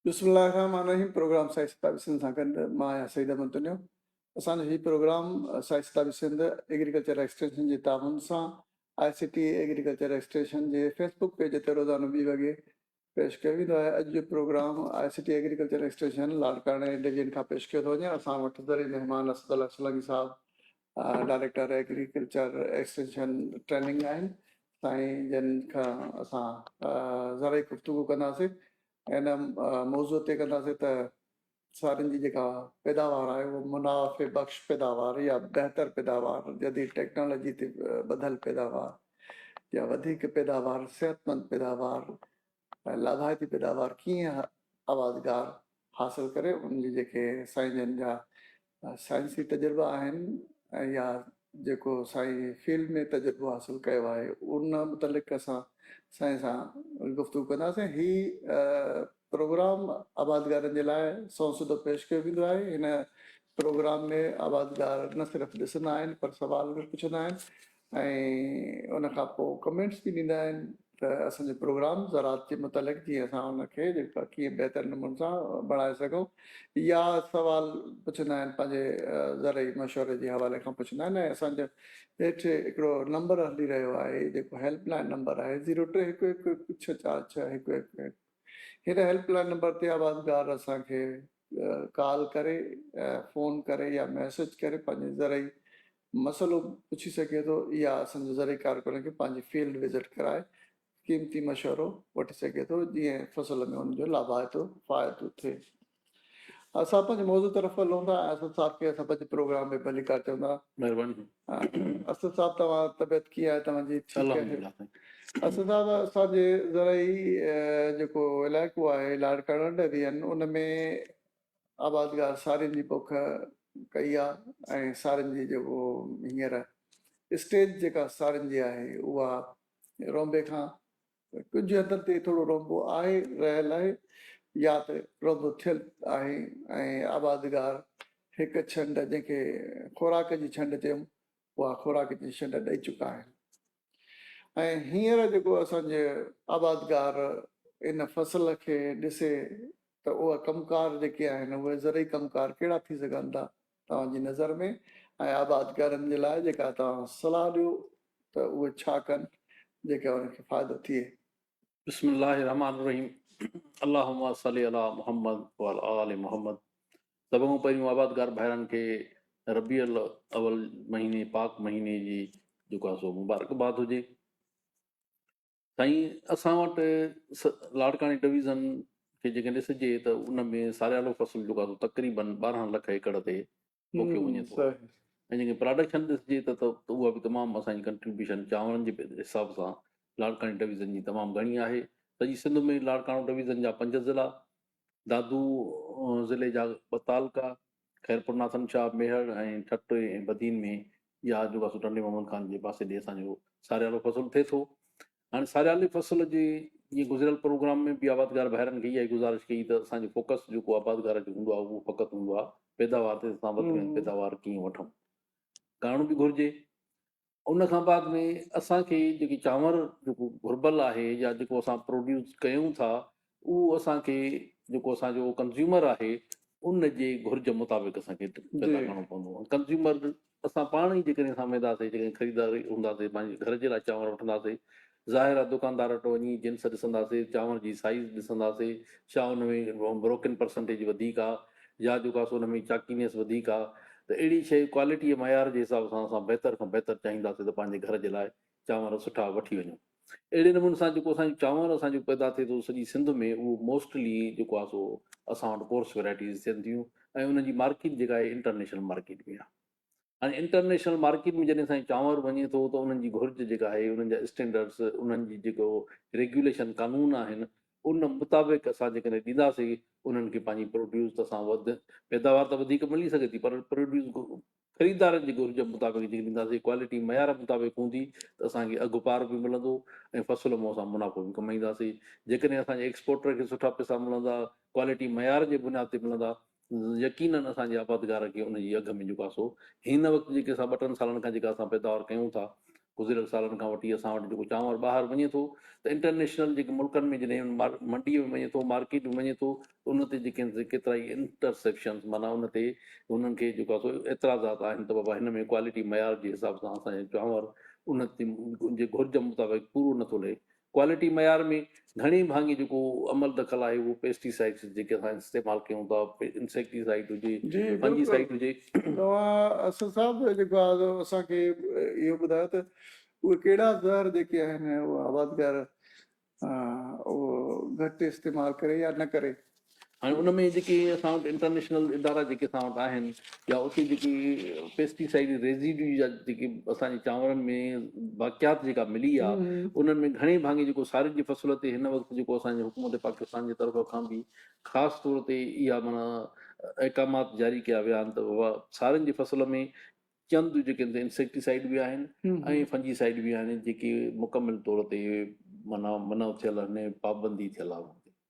بسم الله الرحمن الرحيم پروگرام سائي ستابي سنڌ سان گڏ مان آهيان سعيد احمد تنيو اسان جو هي پروگرام سائي ستابي سنڌ ايگريڪلچر ايڪسٽينشن جي تعاون سان I C T agriculture extension جي فيس بڪ پيج تي روزانو ٻي وڳي پيش ڪيو ويندو آهي اڄ جو programme I C T agriculture extension لاڙڪاڻي ڊويزن کان پيش ڪيو ٿو وڃي اسان وٽ زرعي مهمان اسد الله سولانگي صاحب ڊائريڪٽر ايگريڪلچر ايڪسٽينشن ٽريننگ آهن سائين جن کان اسان زرعي گفتگو ڪنداسين ان موضوع تي ڪنداسين ته سارين جي جيڪا پيداوار آهي اهو منافع بخش پيداوار يا بهتر پيداوار جديد ٽيڪنالاجي تي ٻڌل پيداوار يا وڌيڪ پيداوار صحتمند پيداوار ۽ لاڀائتي پيداوار ڪيئن آوازگار حاصل ڪري ان جي جيڪي سائين جن جا سائنسي تجربا آهن يا جيڪو سائين فيلڊ ۾ تجربو حاصل ڪيو آهي ان متعلق اسان سائين سان گفتگو ڪنداسين هي پروگرام آبادگارن جي لاء سون سڌو پيش ڪيو ويندو آهي هن پروگرام ۾ آبادگار نه صرف ڏسندا آهن پر سوال به پڇندا آهن ۽ ان کان پوء ڪمينٽس به ڏيندا آهن ته اسان جو پروگرام زراعت جي متعلق جيئن اسان ان کي ڪيئن بهتر نموني سان بڻائي سگهون يا سوال پڇندا آهن پنهنجي زرعي مشوري جي حوالي کان پڇندا آهن ۽ اسان جو هيٺ هڪڙو نمبر هلي رهيو آهي جيڪو هيلپ لائين نمبر آهي زيرو ٽي هڪ هڪ هڪ ڇهه چار ڇهه هڪ هڪ هڪ هن هيلپ لائين نمبر تي آبادگار اسان کي ڪال ڪري فون ڪري يا ميسج ڪري پنهنجي زرعي مسئلو پڇي سگهي ٿو يا اسان جي زرعي ڪارڪنن کي پنهنجي فيلڊ وزٽ ڪرائي قيمتي مشورو وٺي سگهي ٿو جئين فصل ۾ ان جو لاڀائتو فائدو ٿئي. اسان پنهنجي موضوع طرف هلون ٿا ۽ اسد صاحب کي اسان پنهنجي پروگرام ۾ ڀليڪار چون ٿا. مهرباني. اسد صاحب توهان طبيعت ڪيئن آهي توهان جي ٺيڪ آهي. الحمدلله سائين. اسد صاحب اسان جي زرعي جيڪو علائقو آهي لاڙڪاڻو ڊويزن ان ۾ آبادگار سارين جي پوک ڪئي آ ۽ سارين جي جيڪو هينئر اسٽيج جيڪا سارين جي آهي اها رونبي کان ڪجهه حد تي ٿورو رونبو آهي رهيل آهي يا ته رونبو ٿيل آهي ۽ آبادگار هڪ ڇنڊ جنهن کي خوراڪ جي ڇنڊ چيم اها خوراڪ جي ڇنڊ ڏئي چڪا آهن. ۽ هينئر جيڪو اسان جي آبادگار ان فصل کي ڏسي ته اها ڪم ڪار جيڪي آهن اهي زرعي ڪم ڪار ڪهڙا ٿي سگهن ٿا توهان جي نظر ۾ ۽ آبادگارن جي لاء جيڪا توهان صلاح ڏيو ته اهي ڇا ڪن جيڪا انهن کي فائدو ٿئي. بسم الله الرحمٰن الرحيم اللهم صلّي علي محمّد وعلي آل محمّد سڀ کان پهريون آبادگار ڀائرن کي ربيع الاول مهيني پاڪ مهيني جي جيڪو آهي سو مبارڪباد هجي سائين اسان وٽ لاڙڪاڻي ڊويزن کي جيڪڏهن ڏسجي ته ان ۾ ساريالو فصل جيڪو آهي تقريبن ٻارهن لک ايڪڙ تي پوکيو وڃي ٿو ۽ جيڪڏهن پراڊڪشن ڏسجي ته اها به تمام اسان جي ڪنٽريبيوشن چانورن جي حساب سان لاڙڪاڻي ڊويزن جي تمام گهڻي آهي سڄي سنڌ ۾ لاڙڪاڻو ڊويزن جا پنج ضلع دادو ضلعي جا ٻه تعلقا خيرپور ناٿن شاهه ميهڙ ۽ ٺٽي ۽ بدين ۾ ڄار جو واسو ٽنڊي محمد خان جي پاسي ڏي اسان جو ساريالو فصل ٿئي ٿو. هاڻي ساريالي فصل جي جيئن گذريل پروگرام ۾ به آبادگار ڀائرن کي اها ئي گذارش ڪئي ته اسان جو فوڪس جيڪو آبادگار جو هوندو آهي اهو فقط هوندو آهي پيداوار تي اسان وڌ ۾ وڌ پيداوار ڪيئن وٺون ڪرڻ به گهرجي ان کان بعد ۾ اسان کي جيڪي چانور جيڪو گهربل آهي يا جيڪو اسان پروڊيوس ڪيون ٿا اهو اسان کي جيڪو اسان جو ڪنزيومر آهي ان جي گهرج مطابق اسان کي پيدا ڪرڻو پوندو ڪنزيومر اسان پاڻ ئي جيڪڏهن اسان وينداسين جيڪڏهن خريدار هونداسين پنهنجي گهر جي لاء چانور وٺنداسين ظاهر آ دڪاندار وٽ وڃي جنس ڏسنداسي، چانور جي سائيز ڏسنداسي، ڇا ان ۾ بروڪن پرسنٽيج وڌيڪ آ يا جو ڪاسو ان ۾ چاڪينيس وڌيڪ آ ته اهڙي شيء ڪوالٽيء معيار جي حساب سان اسان بهتر کان بهتر چاهينداسي ته پنهنجي گهر جي لاء چانور سٺا وٺي وڃون. اهڙي نموني سان جيڪو اسان جو چانور اسان جو پيدا ٿئي ٿو سڄي سنڌ ۾ اهو موسٽلي جيڪو آ سو اسان وٽ ڪورس ويرائٽيز ٿين ٿيون ۽ انهن جي مارڪيٽ جيڪا آهي انٽرنيشنل مارڪيٽ ۾ آ. ۽ انٽرنيشنل مارڪيٽ ۾ جڏهن سائين چانور وڃي ٿو ته انهن جي گهرج جيڪا آهي انهن جا اسٽينڊرڊس انهن جي جيڪو ريگيوليشن قانون آهن ان مطابق اسان جيڪڏهن ڏينداسين انهن کي پنهنجي پروڊيوس اسان وڌ پيداوار ته وڌيڪ ملي سگهي ٿي پر پروڊيوس خريدارن جي گهرج مطابق جيڪڏهن ڏينداسين ڪوالٽي معيار مطابق هوندي ته اسان کي اگهه پار به ملندو ۽ فصل مون اسان منافعو به ڪمائينداسين جيڪڏهن اسان جي ايڪسپورٽر کي سٺا پئسا ملندا ڪوالٽي معيار جي بنياد تي ملندا يقينن اسان جي آبادگار کي ان جي اگهه ۾ جيڪو آسو هن وقت جيڪي اسان ٻه ٽن سالن کان جيڪا اسان پيداوار ڪيون ٿا گذريل سالن کان وٺي اسان وٽ جيڪو چانور ٻاهر وڃي ٿو ته انٽرنيشنل جيڪي ملڪن ۾ جڏهن منڊي ۾ وڃي ٿو مارڪيٽ ۾ وڃي ٿو ته ان تي جيڪي ڪيترا ئي انٽرسيپشنس معنيٰ ان تي انهن کي جيڪو آسو اعتراضات آهن ته بابا هن ۾ ڪوالٽي معيار جي حساب سان اسان جو چانور ان جي گهرج مطابق پورو نٿو لهي ڪوالٽي معيار ۾ گهڻي ڀاڱي جيڪو عمل دخل آهي اهو پيسٽي سائيڊز جيڪي اسان استعمال ڪيون ٿا انسيڪٽي سائيڊ هجي فنجي سائيڊ هجي. توهان اسد صاحب جيڪو آهي اسان کي اهو ٻڌايو ته اهي ڪهڙا زهر جيڪي آهن اهو آبادگار اهو گهٽ استعمال ڪري يا نه ڪري. هاڻي ان ۾ جيڪي اسان وٽ انٽرنيشنل ادارا جيڪي اسان وٽ آهن يا اتي جيڪي پيسٽي سائيڊ ريزيڊيو جا جيڪي اسان جي چانورن ۾ باقيات جيڪا ملي آهي انهن ۾ گهڻي ڀاڱي جيڪو سارين جي فصل تي هن وقت جيڪو اسان جي حڪومت پاڪستان جي طرف کان به خاص طور تي اها معنيٰ احڪامات جاري ڪيا ويا آهن ته سارين جي فصل ۾ چند جيڪي انسيڪٽي سائيڊ به آهن ۽ فنجي سائيڊ به آهن جيڪي مڪمل طور تي معنيٰ منع ٿيل آهن پابندي ٿيل آهي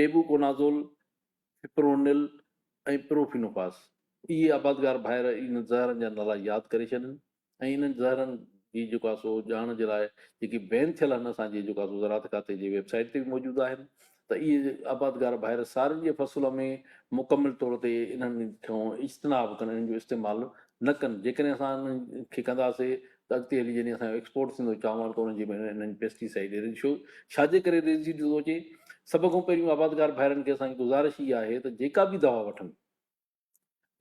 ٽيبوڪونازول، فپرونل ۽ پروفينوفاس. اهي آبادگار ڀائر انهن زهرن جا نالا ياد ڪري ڇڏين ۽ انهن زهرن جي جيڪو آهي سو ڄاڻ جي لاء جيڪي بين ٿيل آهن اسان جي جيڪو آهي سو زراعت کاتي جي ويب سائيٽ تي به موجود آهن ته اهي آبادگار ڀائر سارين جي فصل ۾ مڪمل طور تي انهن کان اجتناب ڪن انهن جو استعمال نه ڪن جيڪڏهن اسان انهن کي ڪنداسي ته اڳتي هلي جڏهن اسان جو ايڪسپورٽ ٿيندو چانور ته انهن جي ۾ انهن پيسٽي سائيڊ ريشيو ڇاجي ڪري ريزيڊ ٿيندو اچي؟ سڀ کان پهريون آبادگار ڀائرن کي اسان جي گذارش اها آهي ته جيڪا به دوا وٺن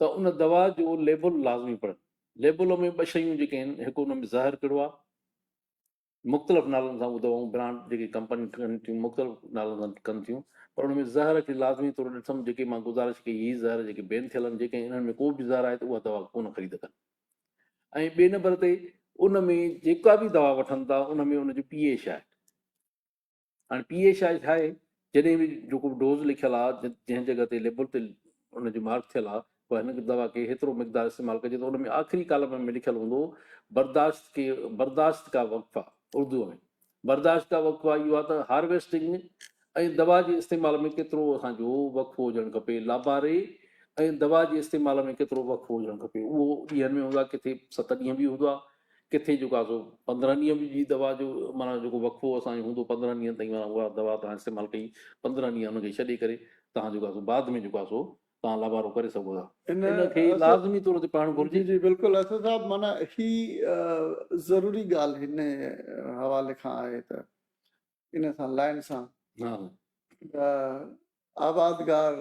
ته ان دوا جو ليبل لازمي پڙهن، ليبل ۾ ٻه شيون جيڪي آهن هڪ ان ۾ زهر ڪهڙو آهي، مختلف نالن سان اهو دوائون برانڊ جيڪي ڪمپنيون ٺهن ٿيون مختلف نالن سان ڪن ٿيون پر ان ۾ زهر کي لازمي طور ڏٺم جيڪي مان گذارش ڪئي هي زهر جيڪي بين ٿيل آهن جيڪي انهن ۾ ڪو به زهر آهي ته اها دوا ڪونه خريد ڪن ۽ ٻئي نمبر تي ان ۾ جيڪا به دوا وٺن ٿا ان ۾ ان جو پي ايش آهي هاڻي پي ايش آهي ڇا آهي جڏهن به جيڪو ڊوز لکيل آهي جنهن جڳهه تي ليبل تي ان جو مارڪ ٿيل آهي پوء هن دوا کي هيترو مقدار استعمال ڪجي ته ان ۾ آخري ڪالم ۾ لکيل هوندو برداشت کي برداشت کا وقفا اردو ۾ برداشت جا وقفا اهو آهي ته هارويسٽنگ ۾ ۽ دوا جي استعمال ۾ ڪيترو اسان جو وقفو هجڻ کپي، لاباري ۽ دوا جي استعمال ۾ ڪيترو وقفو هجڻ کپي اهو ڏينهن ۾ هوندو آهي ڪٿي ست ڏينهن به هوندو آهي ڪٿي جيڪو آهي سو پندرهن ڏينهن به جي دوا جو معنيٰ جيڪو وقفو اسان جو هوندو پندرهن ڏينهن تائين معنيٰ اها دوا تهان استعمال ڪئي پندرهن ڏينهن ان کي ڇڏي ڪري تهان جيڪو آهي سو بعد ۾ جيڪو آهي سو تان لابارو ڪري سگهو ٿا. ان کي لازمي طور تي پڙهڻ گهرجي. جي جي بلڪل اسد صاحب معنيٰ هي ضروري ڳالهه هن حوالي کان آهي ته ان سان لائن سان آبادگار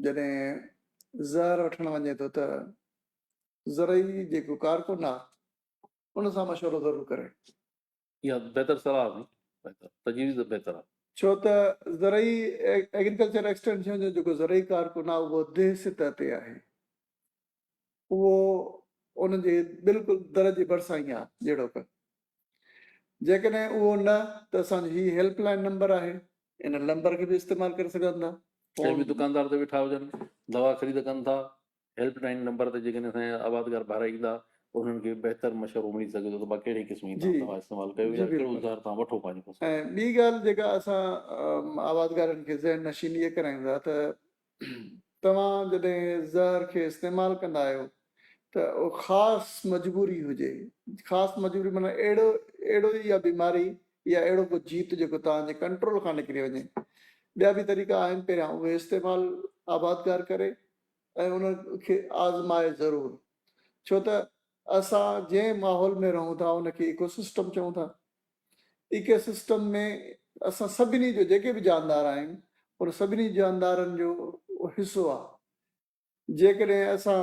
جڏهن زهر وٺڻ وڃي ٿو ته زرعي جيڪو ڪارڪن آهي ان سان مشورو ضرور ڪري. اها بهتر صلاح آهي بهتر تجويز بهتر آهي. ڇو ته زرعي ايگريڪلچر ايڪسٽينشن جو جيڪو زرعي ڪارڪن آهي اهو ديهه سطح تي آهي اهو ان جي بلڪل در جي ڀرسان ئي آهي جهڙوڪ جيڪڏهن اهو نه ته اسان جو هي هيلپ لائين نمبر آهي ان لمبر کي به استعمال ڪري سگهندا ڪنهن به دڪاندار تي ويٺا هجن دوا خريد ڪن ٿا هيلپ لائين نمبر تي جيڪڏهن اسان جا آبادگار ڀائر ايندا ته انهن کي بهتر مشورو ملي سگهي ٿو ته ڀا ڪهڙي قسم جي جي دوا استعمال ڪيو جي يا ڪهڙو بلڪل زهر توهان وٺو پنهنجي فصل ۽ لاء. ٻي ڳالهه جيڪا اسان آبادگارن کي ذهن نشين اهي ڪرايون ٿا ته توهان جڏهن زهر کي استعمال ڪندا آهيو ته اهو خاص مجبوري هجي خاص مجبوري معنيٰ اهڙو اهڙو ئي اها بيماري يا اهڙو ڪو جيت جيڪو توهان جي ڪنٽرول کان نڪري وڃي ٻيا به طريقا آهن پهريان اهي استعمال آبادگار ڪري ۽ ان کي آزمائي ضرور ڇو ته اسان جنهن ماحول ۾ رهون ٿا ان کي ايڪو سسٽم چئون ٿا. ايڪو سسٽم ۾ اسان سڀني جو جيڪي به جاندار آهن ان سڀني جاندارن جو حصو آهي. جيڪڏهن اسان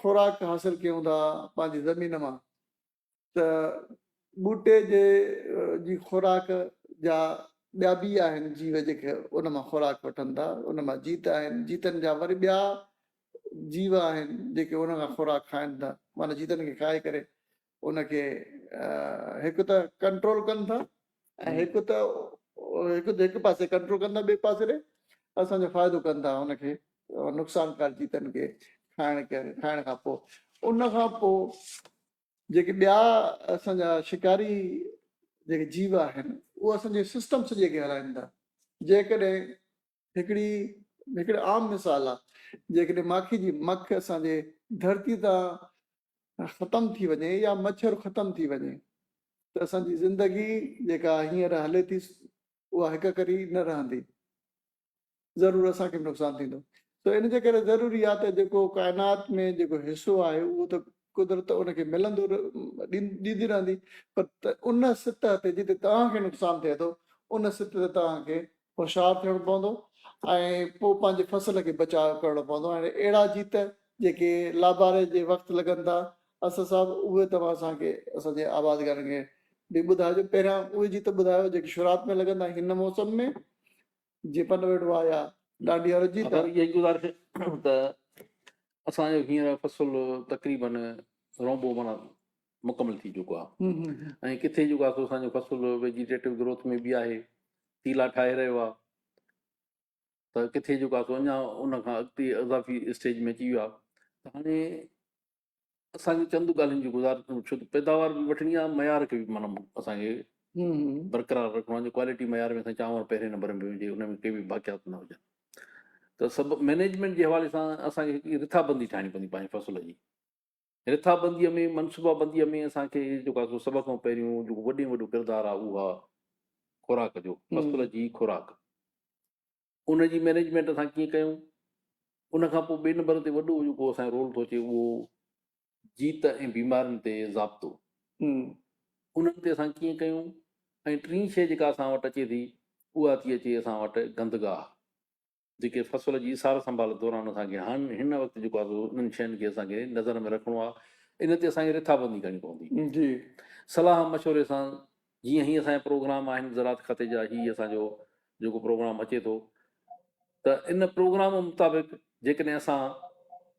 خوراڪ حاصل ڪيون ٿا پنهنجي زمين مان ته ٻوٽي جي جي خوراڪ جا ٻيا بي آهن جيو جيڪي ان مان خوراڪ وٺن ٿا ان مان جيت آهن جيتن جا وري ٻيا جيو آهن جيڪي ان کان خوراڪ کائن ٿا معنيٰ جيتن کي کائي ڪري ان کي هڪ ته ڪنٽرول ڪن ٿا ۽ هڪ ته هڪ هڪ پاسي ڪنٽرول ڪندا ٻئي پاسي ڏي اسان جو فائدو ڪن ٿا ان کي نقصان ڪار چيتن کي کائڻ کائڻ کان پوء ان کان پوء جيڪي ٻيا اسان جا شڪاري جيڪي جيو آهن اهو اسان جي سسٽم سڄي کي هلائين ٿا جيڪڏهن هڪڙي هڪڙي عام مثال آ جيڪڏهن ماکي جي مک اسان جي ڌرتي تان ختم ٿي وڃي يا مڇر ختم ٿي وڃي ته اسان جي زندگي جيڪا هينئر هلي ٿي اها هڪ ڪري نه رهندي ضرور اسان کي به نقصان ٿيندو ته ان جي ڪري ضروري آ ته جيڪو ڪائنات ۾ جيڪو حصو آهي اهو ته قدرت ان کي ملندو ڏيندي رهندي پر ان سطح تي جتي توهان کي نقصان ٿئي ٿو ان سطح تي توهان کي هوشيار ٿيڻو پوندو ۽ پوء پنهنجي فصل کي بچاء ڪرڻو پوندو ۽ اهڙا جيت جيڪي لاباري جي وقت لڳن ٿا اسد صاحب اهي توهان اسان کي اسان جي آبادگارن کي به ٻڌائجو پهريان اهي جيت ٻڌايو جيڪي شروعات ۾ لڳن ٿا هن موسم ۾ جي پن ويڙهو آهي يا ڏانڊيا رجي ٿا اهي گذارش ته اسان جو هينئر فصل تقريبن رونبو معنيٰ مڪمل ٿي چڪو آهي ۽ ڪٿي جيڪو آهي سو اسان جو فصل ويجيٽيٽو گروٿ ۾ به آهي تيلا ٺاهي رهيو آهي ته ڪٿي جيڪو آهي سو اڃا ان کان اڳتي اضافي اسٽيج ۾ اچي ويو آهي ته هاڻي اسانکي چند ڳالهين جي گذار ڇو ته پيداوار به وٺڻي آهي معيار کي به مطلب اسانکي برقرار رکڻو آهي جو ڪوالٽي معيار ۾ اسان چانور پهرين نمبر ۾ هجي ان ۾ ڪي به باقيات نه هجن ته سڀ مينيجمنٽ جي حوالي سان اسانکي هڪ رٿابندي ٺاهڻي پوندي پنهنجي فصل جي رٿابنديء ۾ منصوبابنديء ۾ اسان کي جيڪو آهي سو سڀ کان پهريون جيڪو وڏي ۾ وڏو ڪردار آهي اهو آهي خوراڪ جو فصل جي خوراڪ ان جي مينيجمينٽ اسان ڪيئن ڪيون ان کان پوء ٻئي نمبر تي وڏو جيڪو اسان جو رول ٿو اچي اهو جيت ۽ بيمارين تي ضابطو انهن تي اسان ڪيئن ڪيون ۽ ٽين شيء جيڪا اسان وٽ اچي ٿي اها ٿي اچي اسان وٽ گندگاهه جيڪي فصل جي سار سنڀال دوران اسان کي هاڻ هن وقت جيڪو آهي سو انهن شين کي اسان کي نظر ۾ رکڻو آهي ان تي اسان کي رٿابندي ڪرڻي پوندي جي صلاح مشوري سان جيئن هي اسان جا پروگرام آهن زراعت کاتي جا هي اسان جو جيڪو پروگرام اچي ٿو ته ان پروگرام مطابق جيڪڏهن اسان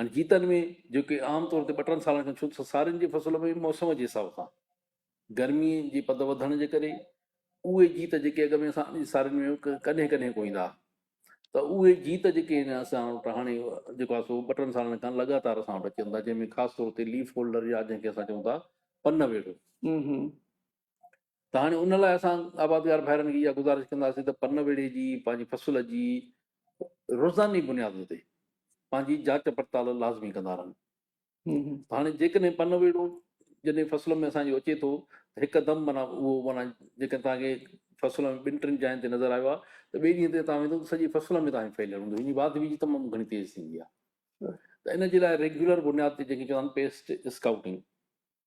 هن جيتن ۾ جيڪي عام طور تي ٻه ٽن سالن کان ڇو سارين جي فصل ۾ موسم جي حساب سان گرمي جي پد وڌڻ جي ڪري اهي جيت جيڪي اڳ ۾ اسان جي سارين ۾ ڪڏهن ڪڏهن ڪو ايندا ته اهي جيت جيڪي آهن اسان وٽ هاڻي جيڪو آهي سو ٻه ٽن سالن کان لڳاتار اسان وٽ اچن ٿا جنهن ۾ خاص طور تي ليف هولڊر يا جنهن کي اسان چئون ٿا پن ويڙهو ته هاڻي ان لاء اسان آبادگار ڀائرن کي اها گذارش ڪنداسين ته پن ويڙهي جي پنهنجي فصل جي روزاني بنياد تي پنهنجي جاچ پڙتال لازمي ڪندا رهن هاڻي جيڪڏهن پن ويڙهو جڏهن فصل ۾ اسان جو اچي ٿو ته هڪدم مانا اهو مانا جيڪڏهن توهان کي فصل ۾ ٻن ٽن جاين تي نظر آيو آهي ته ٻئي ڏينهن تي تان ويندو ته سڄي فصل ۾ توهان ڦهليل هوندو هن جي واڌ ويجهه تمام گهڻي تيز ٿيندي آهي ته ان جي لاء ريگيولر بنياد تي جيڪي چوندا آهن پيسٽ اسڪائوٽنگ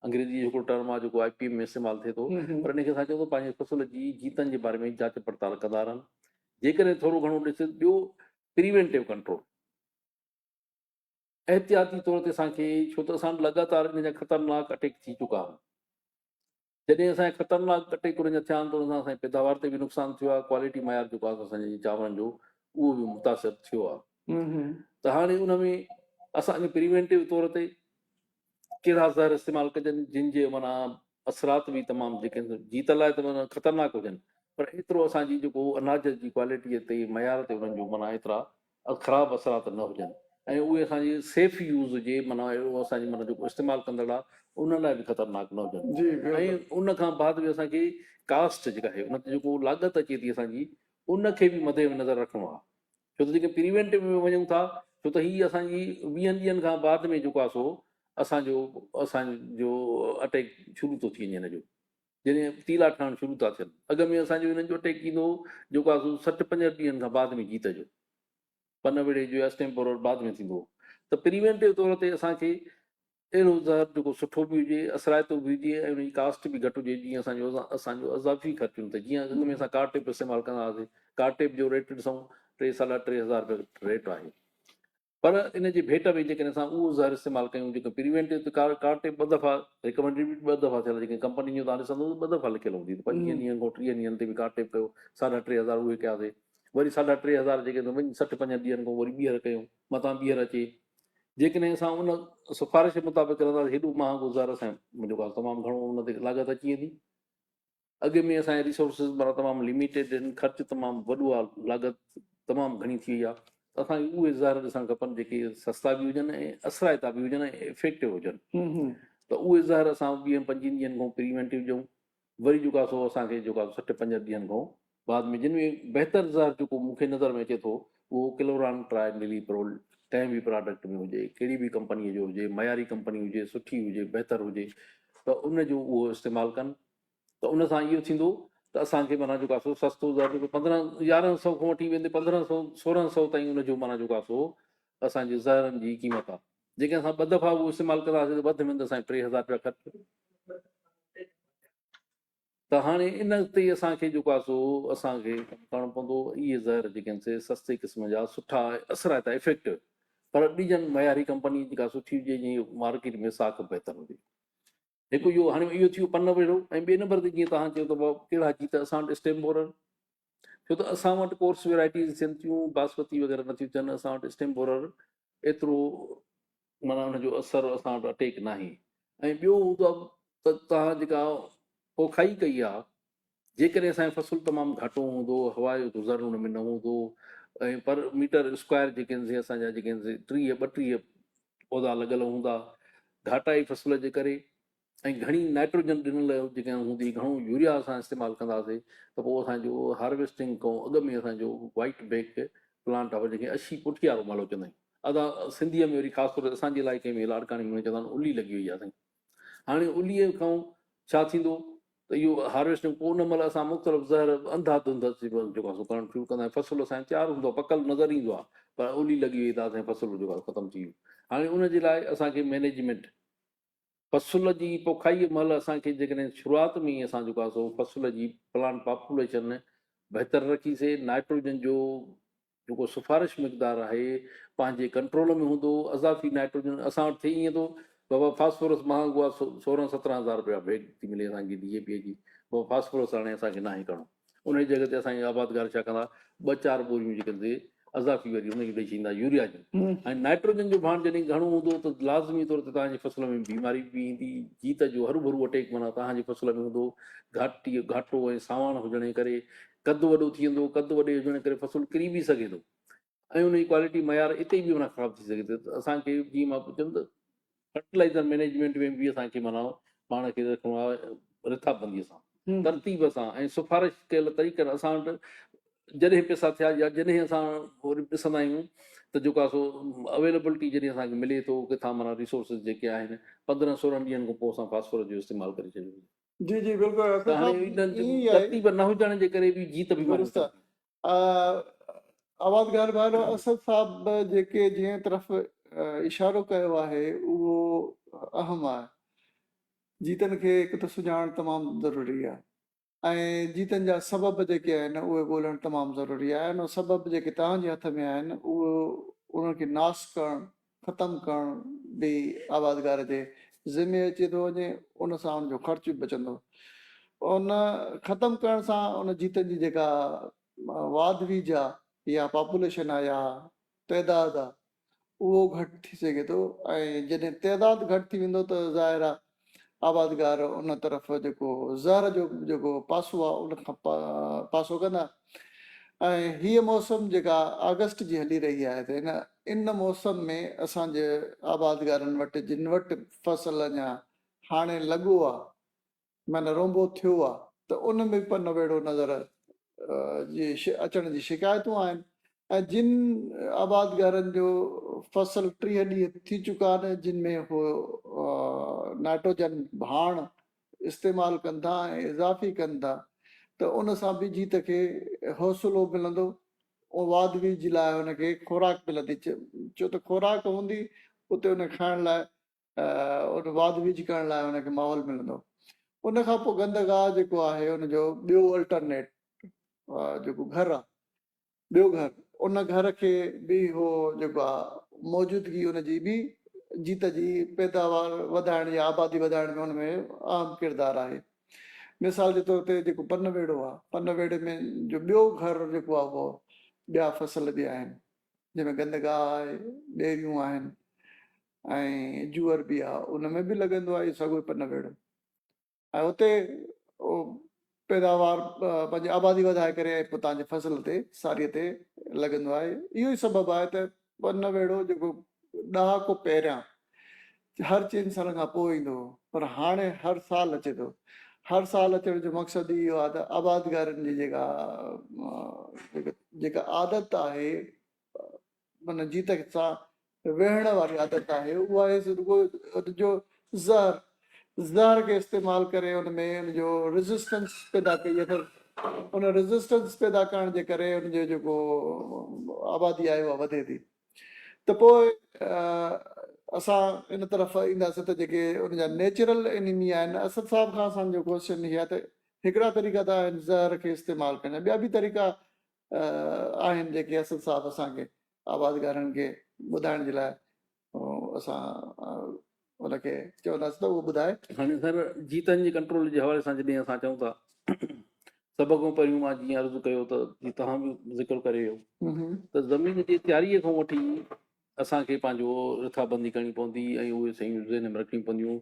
انگريزي جو هڪڙو ٽرم آهي جيڪو آء پي ايم ۾ استعمال ٿئي ٿو پر ان کي اسان چئون ٿا پنهنجي فصل جي جيتن جي باري ۾ جاچ پڙتال ڪندا رهن جيڪڏهن ٿورو گهڻو ڏس ٻيو پريوينٽو ڪنٽرول احتياطي طور تي اسان کي ڇو ته اسان لڳاتار ان جا خطرناڪ اٽيڪ ٿي چڪا آهن جڏهن اسان خطرناڪ ڪٽي ڪرن جا ٿيا آهن ته ان سان اسان جي پيداوار تي به نقصان ٿيو آهي ڪوالٽي معيار جيڪو آهي اسان جي چانورن جو اهو به متاثر ٿيو آهي ته هاڻي ان ۾ اسان کي پريوينٽو طور تي ڪهڙا زهر استعمال ڪجن جن جي معنيٰ اثرات به تمام جيڪي جي ته لاء ته معنيٰ خطرناڪ هجن پر ايترو اسان جي جيڪو اناج جي ڪوالٽي تي معيار تي انهن جو معنيٰ ايترا خراب اثرات نه هجن ۽ اهي اسان جي سيف يوز جي معنيٰ اهو اسان جي معنيٰ جيڪو استعمال ڪندڙ آهي ان لاء به خطرناڪ نه هجن ۽ ان کان بعد به اسان کي ڪاسٽ جيڪا آهي ان تي جيڪو لاڳت اچي ٿي اسان جي ان کي به مدي نظر رکڻو آهي ڇو ته جيڪي پريوينٽو ۾ وڃون ٿا ڇو ته هي اسان جي ويهن ڏينهن کان بعد ۾ جيڪو آهي سو اسان جو اسان جو اٽيڪ شروع ٿو ٿي وڃي هن جو جڏهن تيلا ٺهڻ شروع ٿا ٿين اڳ ۾ اسان جو هنن جو اٽيڪ ٿيندو هو جيڪو آهي سو سٺ پنجهٺ ڏينهن کان بعد ۾ جيت جو پن ويڙهي جو اسٽيمپور بعد ۾ ٿيندو هو ته پريوينٽو طور تي اسان کي اهڙو زهر جيڪو سٺو به هجي، اثرائتو به هجي ۽ ان جي ڪاسٽ به گهٽ هجي، جيئن اسان جو اسان جو اضافي خرچون ته جيئن اڳ ۾ اسان ڪار ٽيپ استعمال ڪندا هئاسين، ڪار ٽيپ جو ريٽ ڏسون ٽي ساڍا ٽي هزار رپيا ريٽ آهي پر ان جي ڀيٽ ۾ جيڪڏهن اسان اهو زهر استعمال ڪيون جيڪو پريوينٽو ته ڪار ڪار ٽيپ ٻه دفعا ريڪمنڊيڊ به ٻه دفعا ٿيل جيڪي ڪمپنين جون تان ڏسندو ته ٻه دفعا لکيل هوندي ته پنجويهن ڏينهن کان ٽيهن ڏينهن تي به ڪار ٽيپ ڪيو ساڍا ٽي هزار اهي ڪياسي وري ساڍا ٽي هزار جيڪي ته وڃي سٺ پنجن ڏينهن کان وري ٻيهر ڪيون مٿان ٻيهر اچي جيڪڏهن اسان ان سفارش مطابق رهنداسين هيڏو ماهه گذار اسان جو ڪار تمام گهڻو ان تي لاڳت اچي ويندي اڳ ۾ اسان جي ريسورسز مارا تمام لميٽيڊ آهن خرچ تمام وڏو آهي لاڳت تمام گهڻي ٿي وئي آهي ته اسان کي اهي زهر ڏسڻ کپن جيڪي سستا به هجن ۽ اثرائتا به هجن ۽ افيڪٽو هجن ته اهي زهر اسان ويهن پنجين ڏينهن کان پريونٽو ڏيون وري جيڪو آهي سو اسان کي جيڪو آهي سٺ پنجهٺ ڏينهن کان بعد ۾ جن ۾ بهتر زهر جيڪو مون کي نظر ۾ اچي ٿو اهو ڪلوران ٽرائي نلي پرول ڪنهن به پراڊڪٽ ۾ هجي ڪهڙي به ڪمپني جو هجي معياري ڪمپني هجي سٺي هجي بهتر هجي ته ان جو اهو استعمال ڪن ته ان سان اهو ٿيندو ته اسان کي معنيٰ جيڪو آهي سستو زهر جيڪو پندرهن يارهن سو کان وٺي ويندي پندرهن سو سورهن سو تائين ان جو معنيٰ جيڪو آهي سو اسان جي زهرن جي قيمت آهي جيڪڏهن اسان ٻه دفعا اهو استعمال ڪنداسين ته وڌ ۾ وڌ اسان کي ٽي هزار رپيا خرچ ٿيندا ته هاڻي ان تي اسان کي جيڪو آهي سو اسان کي ڪم ڪرڻو پوندو اهي زهر جيڪي آهن سي سستي قسم جا سٺا اثرائتا افيڪٽو پر ڏجن معياري ڪمپني جيڪا سٺي هجي جنهن جي مارڪيٽ ۾ ساک بهتر هجي هڪ اهو هاڻي اهو ٿي ويو پن نمبر هيٺ ۽ ٻئي نمبر تي جيئن توهان چيو ته ڪهڙا جيت اسان وٽ اسٽيم بورر ڇو ته اسان وٽ ڪورس ويرائٽيز ٿين ٿيون باسمتي وغيرہ نٿيون ٿين اسان وٽ اسٽيم بورر ايترو مانا ان جو اثر اسان وٽ اٽيڪ ناهي ۽ ٻيو هوندو ته توهان جيڪا پوکائي ڪئي آهي جيڪڏهن اسان جو فصل تمام گهاٽو هوندو، هوا جو گذر ان ۾ نه هوندو ۽ پر ميٽر اسڪوائر جيڪي آهن سي اسان جا جيڪي آهن سي ٽيهه ٻٽيهه پودا لڳل هوندا. گهاٽائي فصل جي ڪري ۽ گهڻي نائٽروجن ڏنل جيڪي آهن هوندي، گهڻو يوريا اسان استعمال ڪنداسي ته پوء اسان جو هارويسٽنگ کان اڳ ۾ اسان جو وائيٽ بيڪ پلانٽ آف جنهن کي اشي پٺيارو مالهو چوندا آهيون. ادا سنڌيء ۾ وري خاص طور تي اسان جي علائقي ۾ لاڙڪاڻي ۾ چوندا آهن الي لڳي وئي آهي سائين. هاڻي اليء کان ڇا ٿيندو ته اهو هارويسٽنگ پوء ان مهل اسان مختلف زهر انڌا ڌنڌ جيڪو آهي سو ڪرڻ شروع ڪندا آهيون فصل اسان تيار هوندو آهي پڪل نظر ايندو آهي پر الي لڳي وئي ته اسان فصل جيڪو آهي ختم ٿي ويو هاڻي ان جي لاء اسان کي مينيجمينٽ فصل جي پوکائي مهل اسان کي جيڪڏهن شروعات ۾ ئي اسان جيڪو آهي سو فصل جي پلانٽ پاپوليشن بهتر رکيسي نائٽروجن جو جيڪو سفارش مقدار آهي پنهنجي ڪنٽرول ۾ هوندو اضافي نائٽروجن اسان وٽ ٿي ائين ٿو بابا فاسفورس مهانگو آهي سورهن سترهن هزار رپيا بيگ ٿي ملي اسان کي ڊي اي پي جي بابا فاسفورس هاڻي اسان کي ناهي ڪرڻو ان جي جڳه تي اسان جي آبادگار ڇا ڪندا ٻه چار ٻوريون جيڪي تي اضافي وري هن کي ڏئي ڇڏيندا يوريا جون ۽ نائٽروجن جو ڀاڻ جڏهن گهڻو هوندو ته لازمي طور تي توهان جي فصل ۾ بيماري به ايندي جيت جو هرو ڀرو اٽيڪ مانا توهان جي فصل ۾ هوندو گهاٽي گهاٽو ۽ ساواڻ هجڻ جي ڪري قد وڏو ٿي ويندو، قد وڏي هجڻ ڪري فصل ڪري به سگهي ٿو ۽ ان جي ڪوالٽي معيار اتي به معنيٰ خراب ٿي سگهي ٿي ته اسان کي جيئن مان چيم ته فرٽيلائزر مئنيجمينٽ ۾ به اسان کي معنيٰ پاڻ کي رکڻو آهي رٿابنديء سان ترتيب سان ۽ سفارش ڪيل طريقن اسان وٽ جڏهن پئسا ٿيا يا جڏهن اسان وري ڏسندا آهيون ته جيڪو آهي سو اويلبلٽي جڏهن اسان کي ملي ٿو ڪٿان معنيٰ ريسورسز جيڪي آهن پندرهن سورهن ڏينهن کان پوء اسان فاسفورس جو استعمال ڪري ڇڏيو جي جي بلڪل ته هاڻي انهن جو ترتيب نه هجڻ جي ڪري به جيت به درست آواز گار ڀائرو اسد صاحب جيڪي جنهن طرف اشارو ڪيو آهي اهو اهم آهي جيتن کي هڪ ته سڃاڻڻ تمام ضروري آهي ۽ جيتن جا سبب جيڪي آهن اهي ڳولهڻ تمام ضروري آهي ۽ سبب جيڪي توهان جي هٿ ۾ آهن اهو انهن کي ناس ڪرڻ ختم ڪرڻ به آبادگار جي ذمي اچي ٿو وڃي، ان سان ان جو خرچ به بچندو. ان ختم ڪرڻ سان ان جيتن جي جيڪا واڌ ويجهه آ يا پاپوليشن آ يا تعداد آ اهو گهٽ ٿي سگهي ٿو ۽ جڏهن تعداد گهٽ ٿي ويندو ته ظاهر آ آبادگار ان طرف جيڪو زهر جو جيڪو پاسو آهي ان کان پاسو ڪندا ۽ هيء موسم جيڪا آگسٽ جي هلي رهي آهي ته ان ان موسم ۾ اسان جي آبادگارن وٽ جن وٽ فصل اڃا هاڻي لڳو آهي معنيٰ رونبو ٿيو آهي ته ان ۾ به پنو ويڙهو نظر جي اچڻ جي شڪايتون آهن ۽ جن آبادگارن جو فصل ٽيهه ڏينهن ٿي چڪا آهن جن ۾ هو نائٽروجن ڀاڻ استعمال ڪن ٿا ۽ اضافي ڪن ٿا ته ان سان به جيت کي حوصلو ملندو واد ويج لاء ان کي خوراڪ ملندي ڇو ته خوراڪ هوندي اتي ان کائڻ لاء ان واڌ ويجهه ڪرڻ لاء ان کي ماحول ملندو ان کان پوء گندگاهه جيڪو آهي ان جو ٻيو الٽرنيٽ جيڪو گهر آهي ٻيو گهر ان گهر کي به هو جيڪو آهي موجودگي ان جي به جيت جي پيداوار وڌائڻ يا آبادي وڌائڻ ۾ ان ۾ اهم ڪردار آهي مثال جي طور تي جيڪو پن ويڙو آهي پن ويڙي ۾ جو ٻيو گهر جيڪو آهي اهو ٻيا فصل به آهن جنهن ۾ گندگاهه آهي ٻيريون آهن ۽ جوئر به آ ان ۾ به لڳندو آ اهي سگهو پنه ويڙهه ۽ اتي پيداوار پنهنجي آبادي وڌائي ڪري ۽ پتان جي فصل تي ساري تي لڳندو آهي اهو ئي سبب آهي ته پنه ويڙهو جيڪو ڏهاڪو پهريان هر چئن سالن کان پوء ايندو هو پر هاڻي هر سال اچي ٿو هر سال اچڻ جو مقصد ئي اهو آهي ته آبادگارن جي جيڪا جيڪا عادت آهي من جي تخت سان ويهڻ واري عادت آهي، اها هيس رڳو ان جو زهر، زهر کي استعمال ڪري ان ۾ ان جو ريزسٽنس پيدا ڪئي اٿس، ان ريزسٽنس پيدا ڪرڻ جي ڪري ان جو جيڪو آبادي آهي اها وڌي ٿي ته پوء اسان ان طرف اينداسين ته جيڪي ان جا نيچرل انيمي آهن اسد صاحب کان اسان جو ڪوشچن هي آهي ته هڪڙا طريقا ته آهن زهر کي استعمال ڪرڻ جا ٻيا به طريقا آهن جيڪي اسد صاحب اسان کي آوازگارن کي ٻڌائڻ جي لاء اسان ان کي چونداسين ته اهو ٻڌائي. هاڻي سر جيتن جي ڪنٽرول جي حوالي سان جڏهن اسان چئون ٿا سڀ کان پهريون مان جيئن عرض ڪيو ته جي توهان به ذڪر ڪري ويو ته زمين جي تياري کان وٺي اسان کي پنهنجو رٿابندي ڪرڻي پوندي ۽ اهي شيون ذهن ۾ رکڻيون پونديون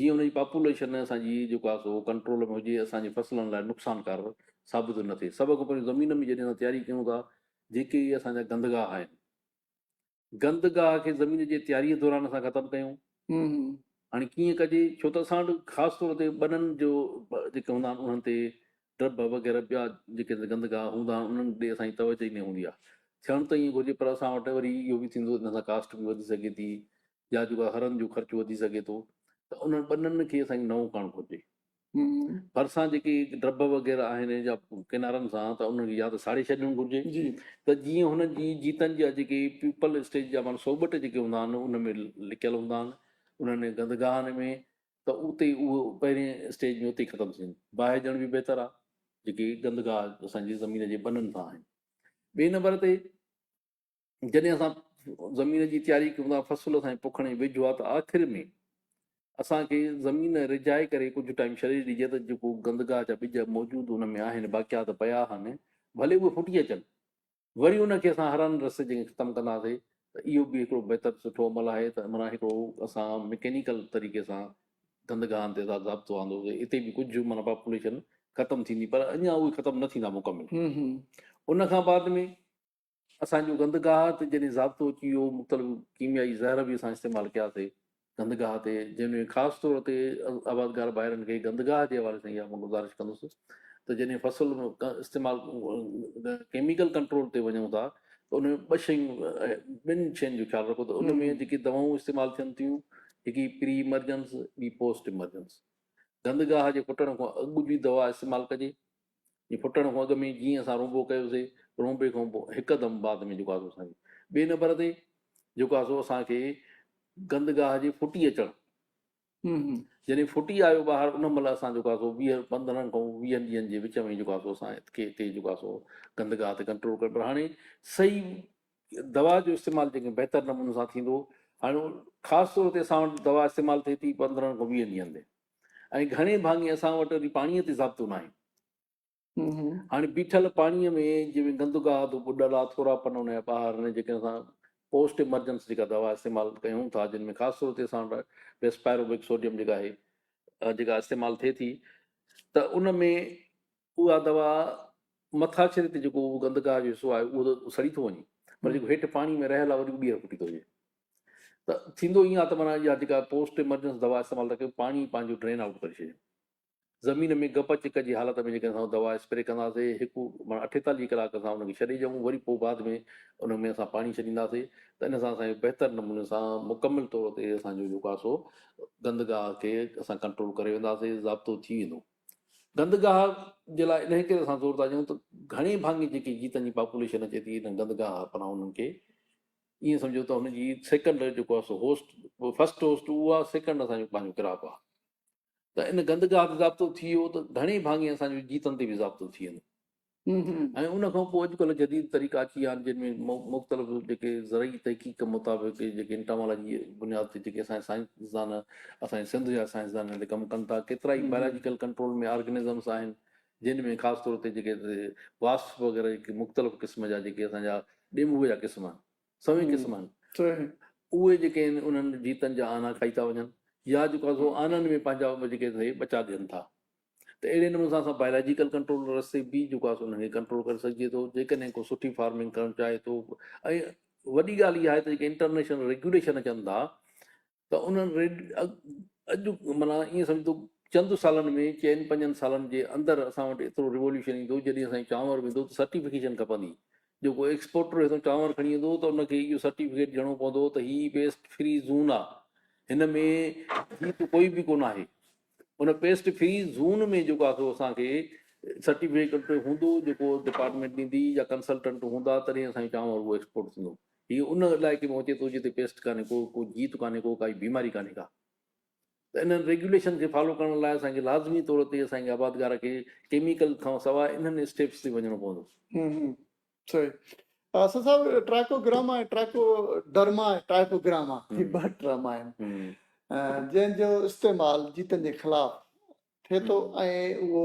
جيئن ان جي پاپوليشن اسان جي جيڪو آهي سو ڪنٽرول ۾ هجي اسان جي فصلن لاء نقصانڪار ثابت نه ٿئي سڀ کان پهريون زمين ۾ جڏهن اسان تياري ڪيون ٿا جيڪي اهي اسان جا گندگاهه آهن گندگاهه کي زمين جي تياري دوران اسان ختم ڪيون هاڻي ڪيئن ڪجي ڇو ته اسان وٽ خاص طور تي ٻنن جو جيڪي هوندا آهن انهن تي ڊب وغيره ٻيا جيڪي گندگاهه هوندا آهن انهن ڏي اسان جي توجه ئي نه هوندي آهي ٿيڻ ته ائين گهرجي پر اسان وٽ وري اهو به ٿيندو ان سان ڪاسٽ به وڌي سگهي ٿي يا جيڪا هرن جو خرچ وڌي سگهي ٿو ته انهن ٻنن کي اسان کي نئون ڪرڻ گهرجي ڀرسان جيڪي ڊڀ وغيره آهن يا ڪنارن سان ته انهن کي يا ته ساڙي ڇڏڻ گهرجي ته جيئن هن جي جيتن جا جيڪي پيپل اسٽيج جا مانا سوبٽ جيڪي هوندا آهن ان ۾ لڪيل هوندا آهن انهن گندگاهن ۾ ته اتي اهو پهرين اسٽيج ۾ اتي ختم ٿين باهه ڄڻ به بهتر آهي جيڪي گندگاهه اسان جي زمين جي ٻنن سان آهن ٻئي نمبر تي جڏهن اسان زمين جي تياري ڪيون ٿا، فصل سائين پوکڻ جي ويجهو آ ته آخر ۾ اسان کي زمين رجهائي ڪري ڪجهه ٽائيم ڇڏي ڏجي ته جيڪو گندگاهه جا ٻج موجود ان ۾ آهن باقيا ته پيا آهن ڀلي اهي ڦٽي اچن وري ان کي اسان هرن رسي جي ختم ڪنداسي ته اهو به هڪڙو بهتر سٺو عمل آهي ته منا هڪڙو اسان مڪينيڪل طريقي سان گندگاهن تي اسان ضابطو آندوسي اتي به ڪجهه منا پاپوليشن ختم ٿيندي پر اڃا اهي ختم نه ٿيندا مڪمل ان کان بعد ۾ اسان جو گند گاهه تي جڏهن ضابطو اچي ويو، مختلف ڪيميائي زهر به اسان استعمال ڪيا سي گند گاهه تي، جنهن ۾ خاص طور تي آبادگار ڀائرن کي گند گاهه جي حوالي سان اها مان گذارش ڪندس ته جڏهن فصل استعمال ڪيميڪل ڪنٽرول تي وڃون ٿا ته ان ۾ ٻه شيون ٻن شين جو خيال رکو ته ان ۾ جيڪي دوائون استعمال ٿين ٿيون هڪي پري ايمرجنس ٻي پوسٽ ايمرجنس گند گاهه جي ڦٽڻ کان اڳ جي دوا استعمال ڪجي جي ڦٽڻ کان اڳ ۾ جيئن اسان رونبو ڪيو سي، رونبي کان پوء هڪدم بعد ۾ جيڪو آسو اسان کي ٻئي نمبر تي جيڪو آسو اسان کي گندگاهه جي ڦٽي اچڻ جڏهن ڦٽي آيو ٻاهر ان مهل اسان جيڪو آسو ويهه پندرهن کان ويهن ڏينهن جي وچ ۾ جيڪو آسو اسان کي هتي جيڪو آسو گندگاهه تي ڪنٽرول ڪري پر هاڻي صحيح دوا جو استعمال جيڪي بهتر نموني سان ٿيندو هاڻي خاص طور تي اسان وٽ دوا استعمال ٿئي ٿي پندرهن کان ويهن ڏينهن تي ۽ گهڻي ڀاڱي اسان وٽ وري پاڻيء تي ضابطو ناهي. هاڻي بيٺل پاڻيء ۾ جنهن ۾ گند گاهه ٻڏل آهي، ٿورا پن ان جا ٻاهر آڻي جيڪڏهن اسان پوسٽ ايمرجنس جيڪا دوا استعمال ڪيون ٿا، جن ۾ خاص طور تي اسان وٽ بيسپائروبڪ سوڊيم جيڪا آهي، جيڪا استعمال ٿئي ٿي ته ان ۾ اها دوا مٿاڇري تي جيڪو گند گاهه جو حصو آهي اهو ته سڙي ٿو وڃي پر جيڪو هيٺ پاڻي ۾ رهيل آهي وري اهو ٻيهر ڦٽي ٿو وڃي. ته ٿيندو ائين آهي ته معنيٰ اها جيڪا پوسٽ ايمرجنس دوا استعمال ٿا ڪيون پاڻي پنهنجو ڊرين آئوٽ ڪري ڇڏيون زمين ۾ گپ چڪ جي حالت ۾ جيڪڏهن اسان دوا اسپري ڪنداسين هڪ معنيٰ اٺيتاليهه ڪلاڪ اسان ان کي ڇڏي ڏيون وري پوء بعد ۾ ان ۾ اسان پاڻي ڇڏينداسين ته ان سان اسانجو بهتر نموني سان مڪمل طور تي اسانجو جيڪو آهي سو گندگاهه کي اسان ڪنٽرول ڪري وينداسين ضابطو ٿي ويندو گندگاهه جي لاء انهي ڪري اسان زور ٿا ڏيون ته گهڻي ڀاڱي جيڪي جيتن جي پاپوليشن اچي ٿي ان گندگاهه پناهه انهن کي ائين سمجهو ته هن جي سيڪنڊ جيڪو آهي سو هوسٽ فرسٽ هوسٽ اهو آهي سيڪنڊ اسان جو پنهنجو ڪراپ آهي ته ان گندگاهه تي ضابطو ٿي ويو ته گهڻي ڀاڱي اسان جو جيتن تي به ضابطو ٿي ويندو ۽ ان کان پوء اڄڪلهه جديد طريقا اچي ويا آهن جن ۾ مختلف جيڪي زرعي تحقيق مطابق جيڪي انٽامالاجي بنياد تي جيڪي اسان سائنسدان اسان سنڌ جا سائنسدان هن تي ڪم ڪن ٿا ڪيترا ئي بيولاجيڪل ڪنٽرول ۾ آرگنزمس آهن جن ۾ خاص طور تي جيڪي واسپ وغيره جيڪي مختلف قسم جا جيڪي اسان جا ڏينڀوء جا قسم آهن، سوين قسم آهن، اهي جيڪي آهن انهن جيتن جا آنا کائي ٿا وڃن يا جيڪو آهي سو آنن ۾ پنهنجا جيڪي سهي ٻچا ڏين ٿا ته اهڙي نموني سان اسان بايولاجيڪل ڪنٽرول رستي به جيڪو آهي سو انهن کي ڪنٽرول ڪري سگهجي ٿو جيڪڏهن ڪو سٺي فارمنگ ڪرڻ چاهي ٿو ۽ وڏي ڳالهه اها آهي ته جيڪي انٽرنيشنل ريگيوليشن اچن ٿا ته انهن ريڊ اڄ معنيٰ ائين سمجهو چند سالن ۾ چئن پنجن سالن جي اندر اسان وٽ ايترو ريوليوشن ايندو جڏهن اسان کي چانور ويندو ته سرٽيفڪيشن کپندي جيڪو ايڪسپورٽر هتو چانور کڻي ايندو ته ان کي اهو سرٽيفڪيٽ ڏيڻو پوندو ته هي پيسٽ فري زون آ هن ۾ هي ته ڪوئي به ڪونه آهي ان پيسٽ فري زون ۾ جيڪو آهي سو اسان کي سرٽيفڪيٽ هوندو جيڪو ڊپارٽمينٽ ڏيندي يا ڪنسلٽنٽ هوندا تڏهن اسان جو چانور اهو ايڪسپورٽ ٿيندو هي ان علائقي ۾ اچي ٿو جتي پيسٽ ڪانهي ڪو، ڪو جيت ڪانهي ڪو، ڪائي بيماري ڪانهي ڪا. ته انهن ريگيوليشن کي فالو ڪرڻ لاء اسان کي لازمي طور تي اسان کي آبادگار کي ڪيميڪل کان سواء انهن اسٽيپس تي وڃڻو پوندو. صحيح Asad sahib Trichogramma ۽ Trichoderma Trichogramma هي ٻه ٽرم آهن جنهن جو استعمال جيتن جي خلاف ٿئي ٿو ۽ اهو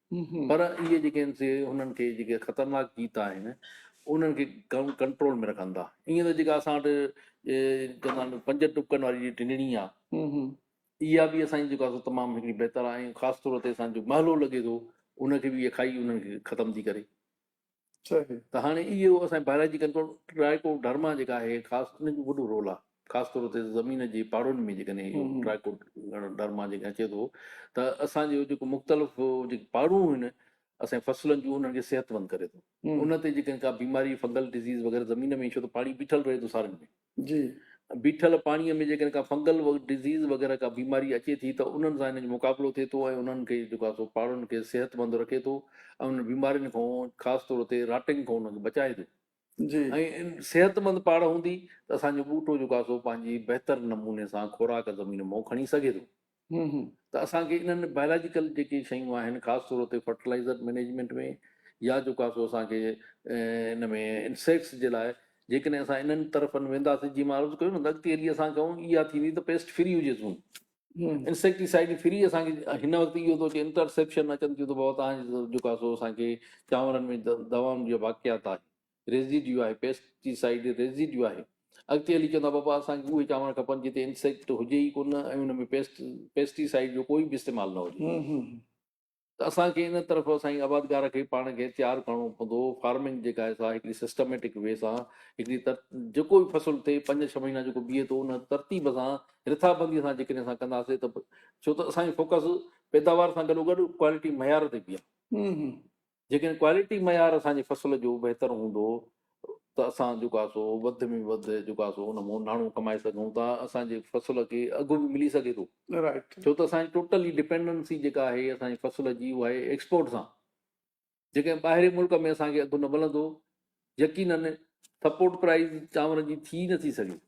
پر اهي جيڪي آهن سي هنن کي جيڪي خطرناڪ جيت آهن انهن کي ڪنٽرول ۾ رکن ٿا ائين ته جيڪا اسان وٽ چوندا آهن پنج ٽپڪن واري جي ٽنڙي آهي اها به اسان جي جيڪو آهي سو تمام هڪڙي بهتر آهي ۽ خاص طور تي اسان جو محلو لڳي ٿو ان کي به اهي کائي انهن کي ختم ٿي ڪري ته هاڻي اهو اسان بائلاجي ڪنٽرول ٽرائيڪو ڊرما جيڪا آهي خاص ان جو وڏو رول آهي خاص طور تي زمين جي پاڙن ۾ جيڪڏهن اهو ٽرائيڪو ڊرما جيڪا اچي ٿو ته اسان جو جيڪو مختلف جيڪي پاڙون آهن اسان فصلن جون انهن کي صحت مند ڪري ٿو ان تي جيڪڏهن ڪا بيماري فنگل ڊزيز وغيره زمين ۾ ڇو ته پاڻي بيٺل رهي ٿو سارن ۾ جي. بيٺل پاڻيء ۾ جيڪڏهن ڪا فنگل ڊزيز وغيره ڪا بيماري اچي ٿي ته انهن سان هن جو مقابلو ٿئي ٿو ۽ انهن کي جيڪو آهي سو پاڙن کي صحتمند رکي ٿو ۽ انهن بيمارين کان خاص طور تي راٽنگ کان انهن کي بچائي ٿو جي. ۽ صحتمند پاڙ هوندي ته اسان جو ٻوٽو جيڪو آهي سو پنهنجي بهتر نموني سان خوراڪ زمين مئو کڻي سگهي ٿو. هون هون ته اسان کي انهن بائلاجيڪل جيڪي شيون آهن خاص طور تي فرٽلائزر مئنيجمينٽ ۾ يا جو ڪا سو اسان کي ان ۾ انسيڪٽس جي لاء جيڪڏهن اسان انهن طرفن وينداسين جي مان عرض ڪيو نه ته اڳتي هلي اسان کي اها ٿيندي ته پيسٽ فري هجي سون انسيڪٽيسائڊ فري اسان کي هن وقت اهو ٿو اچي انٽرسيپشن اچن ٿيون ته بابا تهان جو ڪا سو اسان کي چانورن ۾ دوائن جا واقعات آهن ريزيڊيو آهي، پيسٽي سائيڊ ريزيڊيو آهي. اڳتي هلي چوندا بابا اسان کي اهي چانور کپن جتي انسيڪٽ هجي ئي ڪونه ۽ ان ۾ پيسٽ پيسٽي سائيڊ جو ڪوئي به استعمال نه هجي ته اسان کي ان طرف اسان جي آبادگار کي پاڻ کي تيار ڪرڻو پوندو. فارمنگ جيڪا آهي سا هڪڙي سسٽميٽڪ وي سان هڪڙي تر جيڪو به فصل ٿئي پنج ڇهه مهينا جيڪو بيهي ٿو ان ترتيب سان رٿا بندي سان جيڪڏهن اسان ڪنداسي ته ڇو ته اسان جي فوڪس پيداوار سان گڏو گڏ ڪوالٽي معيار تي به آهي. جيڪڏهن ڪوالٽي معيار اسان جي فصل جو بهتر هوندو ته اسان جيڪو آهي سو وڌ ۾ وڌ جيڪو آهي سو ان مون ناڻو ڪمائي سگهون ٿا اسان جي فصل کي اگهه به ملي سگهي ٿو ڇو ته اسان جي ٽوٽل ئي ڊپينڊنسي جيڪا آهي اسان جي فصل جي اها آهي ايڪسپورٽ سان جيڪڏهن ٻاهرين ملڪ ۾ اسان کي اگهه نه ملندو يقينن سپورٽ پرائز چانور جي ٿي نه ٿي سگهي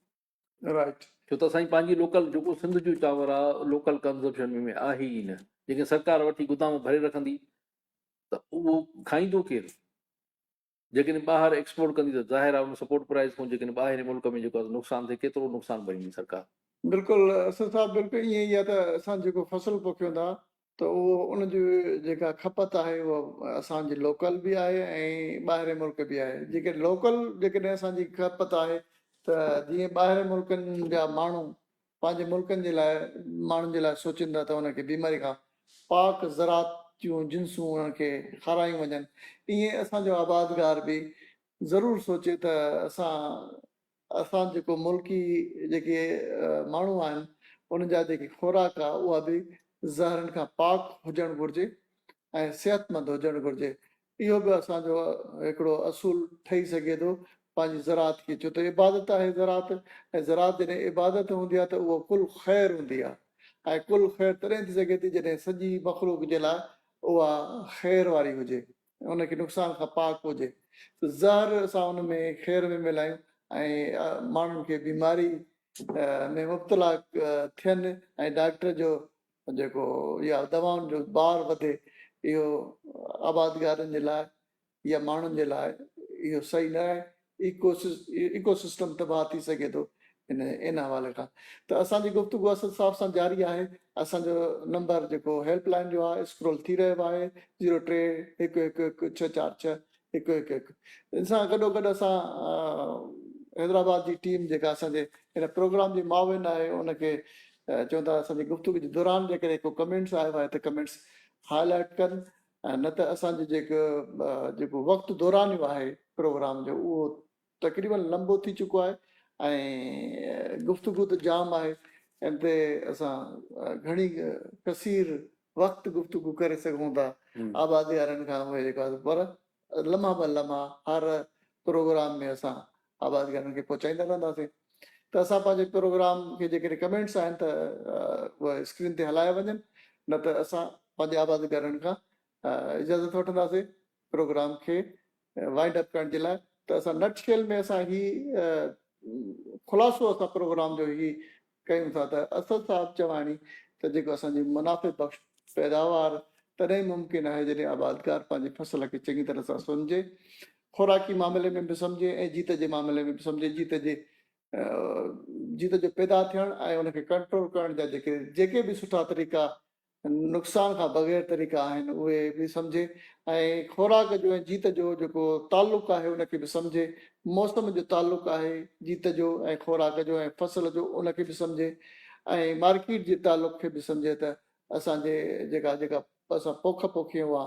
رائٽ ڇو ته اسانجي پنهنجي لوڪل جيڪو سنڌ جو چانور آ لوڪل ڪنزمپشن ۾ آهي ئي نه جيڪي سرڪار وٺي گدام ڀري رکندي ته اهو کائيندو ڪير جيڪڏهن ٻاهر ايڪسپورٽ ڪندي ته ظاهر آهي ان سپورٽ پرائز کان جيڪڏهن ٻاهرين ملڪ ۾ جيڪو نقصان ٿئي ڪيترو نقصان ڀريندي سرڪار. بلڪل اسد صاحب بلڪل ائين ئي آ ته اسان جيڪو فصل پوکيون ٿا ته اهو ان جي جيڪا کپت آهي اها اسان جي لوڪل به آهي ۽ ٻاهرين ملڪ به آهي جيڪي لوڪل جيڪڏهن اسان جي کپت آهي ته جيئن ٻاهرين ملڪن جا ماڻهو پنهنجي ملڪن جي لاء ماڻهن جي لاء سوچين ٿا ته انهن کي بيماري کان پاڪ زراعت جون جنسون انهن کي کارايون وڃن ايئن اسان جو آبادگار به ضرور سوچي ته اسان اسان جيڪو ملڪي جيڪي ماڻهو آهن انهن جا جيڪي خوراڪ آهي اها به زهرن کان پاڪ هجڻ گهرجي ۽ صحتمند هجڻ گهرجي اهو به اسان جو هڪڙو اصول ٺهي سگهي ٿو پنهنجي زراعت کي ڇو ته عبادت آهي زراعت ۽ زراعت جڏهن عبادت هوندي آهي ته اهو ڪل خير هوندي آهي ۽ ڪل خير تڏهن ٿي سگهي ٿي جڏهن سڄي مخلوق جي لاء اها خير واري هجي ان کي نقصان کان پاڪ هجي ته زهر اسان ان ۾ کير ۾ ملايون ۽ ماڻهن کي بيماري ۾ مبتلا ٿين ۽ ڊاڪٽر جو جيڪو يا دوائن جو بار وڌي اهو آبادگارن جي لاء يا ماڻهن جي لاء اهو صحيح نه آهي ايڪو سسٽم تباهه ٿي سگهي ٿو ان حوالي کان ته اسان جي گفتگو اسد صاحب سان جاري آهي اسان جو نمبر جيڪو هيلپ لائين جو آهي اسڪرول ٿي رهيو آهي زيرو ٽي هڪ هڪ هڪ ڇهه چار ڇهه هڪ هڪ هڪ ان سان گڏو گڏ اسان حيدرآباد جي ٽيم جيڪا اسان جي ان پروگرام جي معاون آهي ان کي چون ٿا اسان جي گفتگو جي دوران جيڪڏهن ڪو ڪمينٽس آيو آهي ته ڪمينٽس هاء لائٽ ڪن نه ته اسان جو جيڪو جيڪو وقت دورانيو آهي پروگرام جو اهو تقريبن لنبو ٿي چڪو آهي ۽ گفتگو ته جام آهي ان تي اسان گهڻي ڪثير وقت گفتگو ڪري سگهون ٿا آبادي وارن کان پر لمحا به لمحا هر پروگرام ۾ اسان آواز گهرن کي پهچائيندا رهنداسين ته اسان پنهنجي پروگرام کي جيڪڏهن ڪمينٽس آهن ته اهي اسڪرين تي هلايا وڃن نه ته اسان پنهنجي آواز گهرن کان اجازت وٺنداسين پروگرام کي وائنڊ اپ ڪرڻ جي لاء ته اسان نٽ شيل ۾ اسان هي خلاصو اسان پروگرام جو هي ڪيون ٿا ته اسد صاحب چواڻي ته جيڪو اسان جي منافع بخش پيداوار تڏهن ئي ممڪن آهي جڏهن آبادگار پنهنجي فصل کي چڱي طرح سان سنجهي خوراڪي معاملي ۾ به سمجهي ۽ جيت جي معاملي ۾ به سمجهي جيت جي جيت جو پيدا ٿيڻ ۽ ان کي ڪنٽرول ڪرڻ جا جيڪي جيڪي به سٺا طريقا نقصان کان بغير طريقا آهن اهي به سمجهي ۽ خوراڪ جو ۽ جيت جو جيڪو تعلق آهي ان کي به سمجهي، موسم جو تعلق آهي جيت جو ۽ خوراڪ جو ۽ فصل جو ان کي به سمجهي ۽ مارڪيٽ جي تعلق کي به سمجهي ته اسان جي جيڪا جيڪا اسان پوک پوکيون آ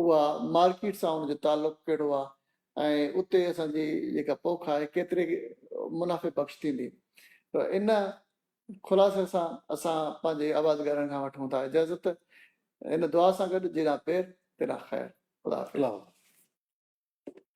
اها مارڪيٽ سان ان جو تعلق ڪهڙو آ ۽ اتي اسان جي جيڪا پوک آهي ڪيتري منافعي بخش ٿيندي ته ان خلاصي سان اسان پنهنجي آوازگارن کان وٺون ٿا اجازت ان دعا سان گڏ جيڏانهن پير تيڏانهن خير خدا حافظ.